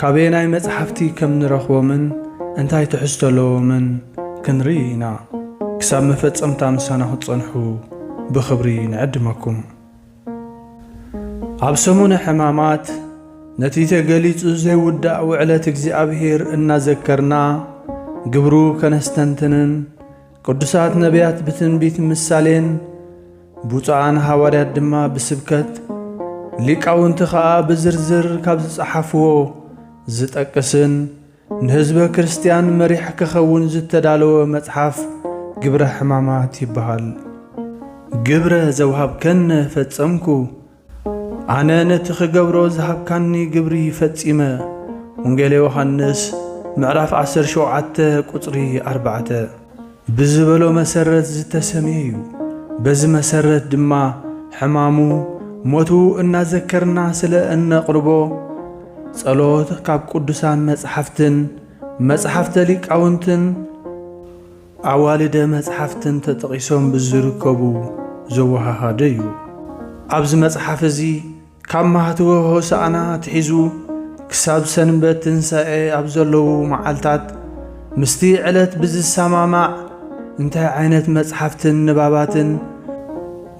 ካበየናይ መጽሓፍቲ ከም ንረኽቦምን እንታይ ትሕዝቶ ኣለዎምን ክንርኢ ኢና። ክሳብ መፈጸምታ ምሳና ክትጸንሑ ብኽብሪ ንዕድመኩም። ኣብ ሰሙነ ሕማማት ነቲ ተገሊጹ ዘይውዳእ ውዕለት እግዚኣብሔር እናዘከርና ግብሩ ከነስተንትንን፣ ቅዱሳት ነቢያት ብትንቢት ምሳሌን ብፁዓን ሃዋርያት ድማ ብስብከት ሊቃውንቲ ኸኣ ብዝርዝር ካብ ዝጸሓፍዎ ዝጠቅስን ንህዝበ ክርስቲያን መሪሕ ክኸውን ዝተዳለወ መጽሓፍ ግብረ ሕማማት ይበሃል። ግብረ ዘውሃብከነ ፈጸምኩ ኣነ ነቲ ክገብሮ ዝሃብካኒ ግብሪ ፈጺመ። ወንጌለ ዮሓንስ ምዕራፍ ዓሰርተ ሸውዓተ ቁጽሪ ኣርባዕተ ብዝበሎ መሰረት ዝተሰምየ እዩ። በዚ መሰረት ድማ ሕማሙ፣ ሞቱ እናዘከርና ስለ እነቕርቦ ጸሎት ካብ ቅዱሳን መጽሓፍትን መጽሓፍተ ሊቃውንትን ኣዋልደ መጽሓፍትን ተጠቒሶም ብዝርከቡ ዘወሃሃደ እዩ። ኣብዚ መጽሓፍ እዚ ካብ ማህትወ ሆሳእና ኣትሒዙ ክሳብ ሰንበት ትንሳኤ ኣብ ዘለዉ መዓልታት ምስቲ ዕለት ብዝሰማማዕ እንታይ ዓይነት መጽሓፍትን ንባባትን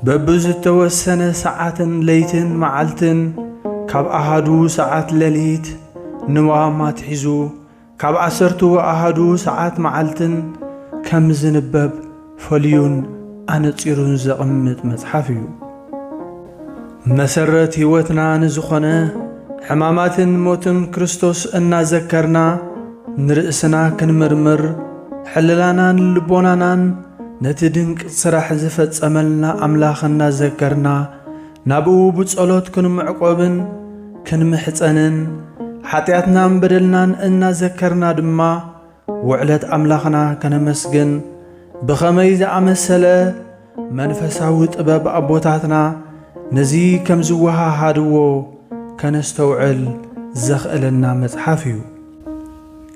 በብዝተወሰነ ሰዓትን ለይትን መዓልትን ካብ ኣሃዱ ሰዓት ለሊት ንዋም ኣትሒዙ ካብ ዓሰርቱ ኣሃዱ ሰዓት መዓልትን ከም ዝንበብ ፈልዩን ኣነጺሩን ዘቕምጥ መጽሓፍ እዩ። መሰረት ሕይወትና ንዝኾነ ሕማማትን ሞትን ክርስቶስ እናዘከርና ንርእስና ክንምርምር፣ ሕልናናን ልቦናናን ነቲ ድንቅ ስራሕ ዝፈጸመልና ኣምላኽ እናዘከርና፣ ናብኡ ብጸሎት ክንምዕቆብን ክንምሕጸንን ሓጢኣትናን በደልናን እናዘከርና ድማ ውዕለት ኣምላኽና ከነመስግን ብኸመይ ዝኣመሰለ መንፈሳዊ ጥበብ ኣቦታትና ነዚ ከም ዝወሃሃድዎ ከነስተውዕል ዘኽእለና መጽሓፍ እዩ።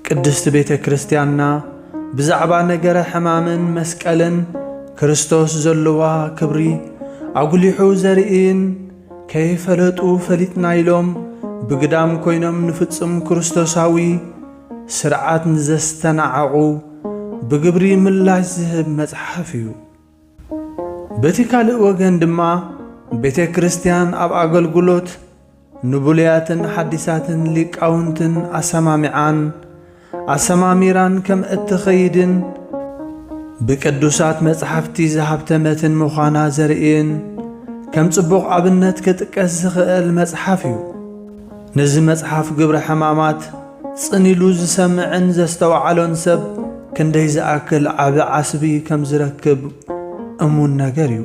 ቅድስት ቤተ ክርስቲያንና ብዛዕባ ነገረ ሕማምን መስቀልን ክርስቶስ ዘለዋ ክብሪ ኣጉሊሑ ዘርእይን ከይፈለጡ ፈሊጥና ኢሎም ብግዳም ኮይኖም ንፍጹም ክርስቶሳዊ ስርዓት ንዘስተናዓቑ ብግብሪ ምላሽ ዝህብ መጽሓፍ እዩ። በቲ ካልእ ወገን ድማ ቤተ ክርስቲያን ኣብ ኣገልግሎት ንብሉያትን ሓዲሳትን ሊቃውንትን ኣሰማሚዓን ኣሰማሚራን ከም እትኸይድን ብቅዱሳት መጻሕፍቲ ዝሃብተመትን ምዃና ዘርእይን ከም ጽቡቕ ኣብነት ክጥቀስ ዝኽእል መጽሓፍ እዩ። ነዚ መጽሓፍ ግብረ ሕማማት ጽን ኢሉ ዝሰምዕን ዘስተውዓሎን ሰብ ክንደይ ዝኣክል ዓቢ ዓስቢ ከም ዝረክብ እሙን ነገር እዩ።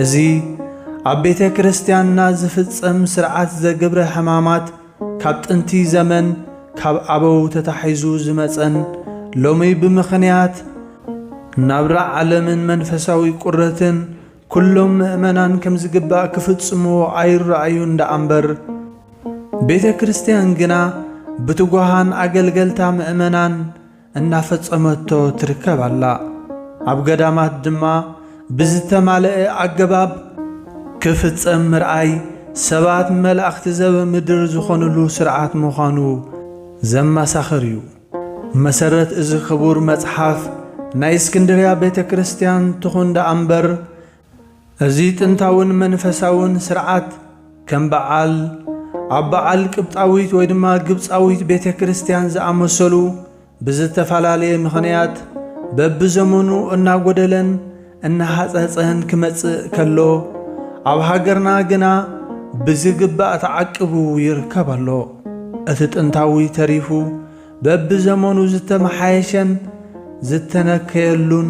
እዚ ኣብ ቤተ ክርስቲያንና ዝፍጸም ሥርዓት ዘግብረ ሕማማት ካብ ጥንቲ ዘመን ካብ ኣበው ተታሒዙ ዝመጸን ሎሚ ብምኽንያት ናብራ ዓለምን መንፈሳዊ ቁረትን ኩሎም ምእመናን ከም ዝግባእ ክፍጽምዎ ኣይረኣዩን ደኣ እምበር፣ ቤተ ክርስቲያን ግና ብትጉሃን ኣገልገልታ ምእመናን እናፈጸመቶ ትርከብ ኣላ። ኣብ ገዳማት ድማ ብዝተማለኣ ኣገባብ ክፍጸም ምርኣይ ሰባት መላእኽቲ ዘበ ምድር ዝኾንሉ ስርዓት ምዃኑ ዘመሳኽር እዩ። ብመሰረት እዚ ክቡር መጽሓፍ ናይ እስክንድርያ ቤተ ክርስቲያን ትኹን ደኣ እምበር እዚ ጥንታውን መንፈሳውን ስርዓት ከም በዓል ኣብ በዓል ቅብጣዊት ወይ ድማ ግብጻዊት ቤተ ክርስቲያን ዝኣመሰሉ ብዝተፈላለየ ምኽንያት በብዘመኑ እናጎደለን እናሃጸጸን ክመጽእ ከሎ ኣብ ሃገርና ግና ብዝግባእ ተዓቅቡ ይርከብ ኣሎ። እቲ ጥንታዊ ተሪፉ በብዘመኑ ዝተመሓየሸን ዝተነከየሉን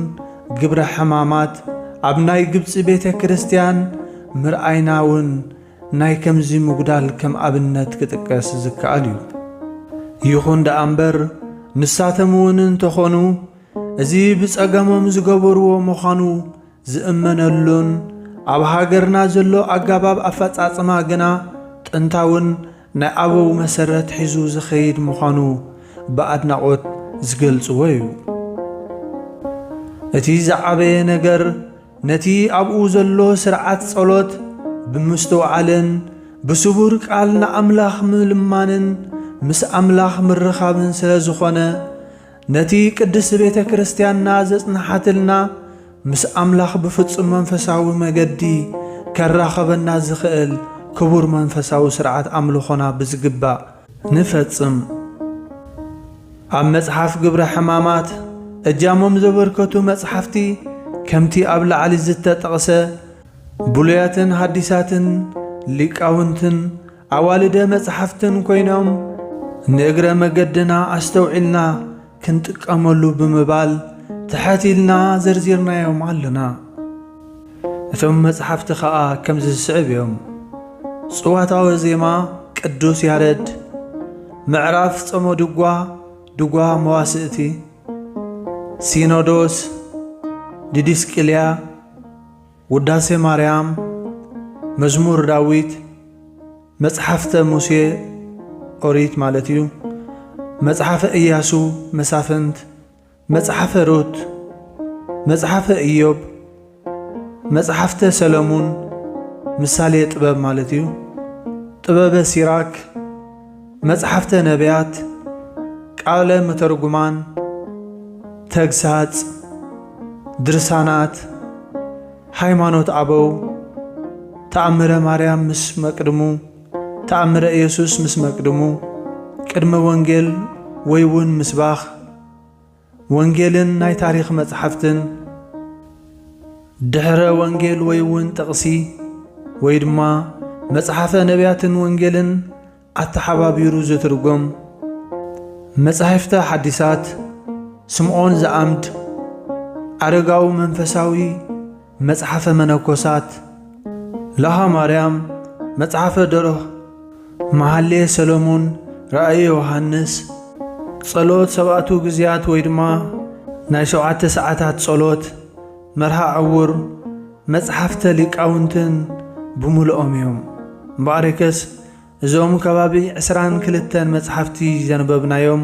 ግብረ ሕማማት ኣብ ናይ ግብጺ ቤተ ክርስቲያን ምርኣይና እውን ናይ ከምዚ ምጉዳል ከም ኣብነት ክጥቀስ ዝከኣል እዩ። ይኹን ደኣ እምበር ንሳቶም እውን እንተኾኑ እዚ ብጸገሞም ዝገበርዎ ምዃኑ ዝእመነሉን ኣብ ሃገርና ዘሎ ኣጋባብ ኣፈጻጽማ ግና ጥንታውን ናይ ኣበው መሰረት ሒዙ ዝኸይድ ምዃኑ ብኣድናቖት ዝገልጽዎ እዩ። እቲ ዝዓበየ ነገር ነቲ ኣብኡ ዘሎ ስርዓት ጸሎት ብምስትውዓልን ብስቡር ቃል ንኣምላኽ ምልማንን ምስ ኣምላኽ ምርኻብን ስለ ዝኾነ ነቲ ቅድስት ቤተ ክርስቲያንና ዘጽንሓትልና ምስ ኣምላኽ ብፍጹም መንፈሳዊ መገዲ ከራኸበና ዝኽእል ክቡር መንፈሳዊ ሥርዓት ኣምልኾና ብዝግባእ ንፈጽም። ኣብ መጽሓፍ ግብረ ሕማማት እጃሞም ዘበርከቱ መጽሓፍቲ ከምቲ ኣብ ላዕሊ ዝተጠቕሰ ብሉያትን ሃዲሳትን ሊቃውንትን፣ ኣዋልደ መጽሓፍትን ኮይኖም ንእግረ መገድና ኣስተውዒልና ክንጥቀመሉ ብምባል ትሐት ኢልና ዘርዚርናዮም ኣሎና። እቶም መጽሓፍቲ ኸኣ ከምዚ ዝስዕብ እዮም። ጽዋታወ ዜማ ቅዱስ ያረድ፣ ምዕራፍ ጸሞ ድጓ፣ ድጓ መዋስእቲ፣ ሲኖዶስ፣ ዲዲስቅልያ፣ ውዳሴ ማርያም፣ መዝሙር ዳዊት፣ መጽሓፍተ ሙሴ፣ ኦሪት ማለት እዩ፣ መጽሓፈ እያሱ፣ መሳፍንት፣ መጽሓፈ ሩት፣ መጽሓፈ እዮብ፣ መጽሓፍተ ሰለሙን፣ ምሳሌ ጥበብ ማለት እዩ፣ ጥበበ ሲራክ፣ መጽሓፍተ ነብያት፣ ቃለ መተርጉማን፣ ተግሳጽ፣ ድርሳናት፣ ሃይማኖት ኣበው፣ ተኣምረ ማርያም ምስ መቅድሙ፣ ተኣምረ ኢየሱስ ምስ መቅድሙ፣ ቅድመ ወንጌል ወይውን ምስባክ፣ ወንጌልን ናይ ታሪኽ መጻሕፍትን ድኅረ ወንጌል ወይውን ጥቕሲ ወይ ድማ መጽሓፈ ነቢያትን ወንጌልን ኣተሓባቢሩ ዝትርጎም መጻሕፍተ ሓዲሳት ስምዖን ዘኣምድ ኣረጋዊ መንፈሳዊ መጽሓፈ መነኮሳት ለሃ ማርያም መጽሓፈ ደርኽ መሃሌ ሰለሙን ራእየ ዮሃንስ ጸሎት ሰብኣቱ ግዝያት ወይ ድማ ናይ ሸውዓተ ሰዓታት ጸሎት መርሃ ዕውር መጽሓፍተ ሊቃውንትን ብምልኦም እዮም። እምበኣርከስ እዞም ከባቢ ዕስራን ክልተን መጽሓፍቲ ዘንበብናዮም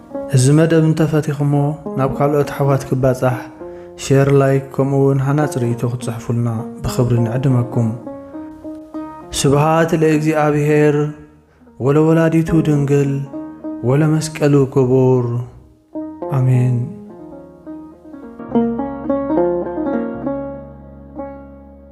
እዚ መደብ እንተፈቲኽሞ ናብ ካልኦት ኣሕዋት ክባጻሕ ሼር ላይክ ከምኡ ውን ሃናጽ ርእይቶ ክትጽሕፉልና ብኽብሪ ንዕድመኩም። ስብሃት ለእግዚኣብሄር ወለወላዲቱ ድንግል ወለመስቀሉ ክቡር ኣሜን።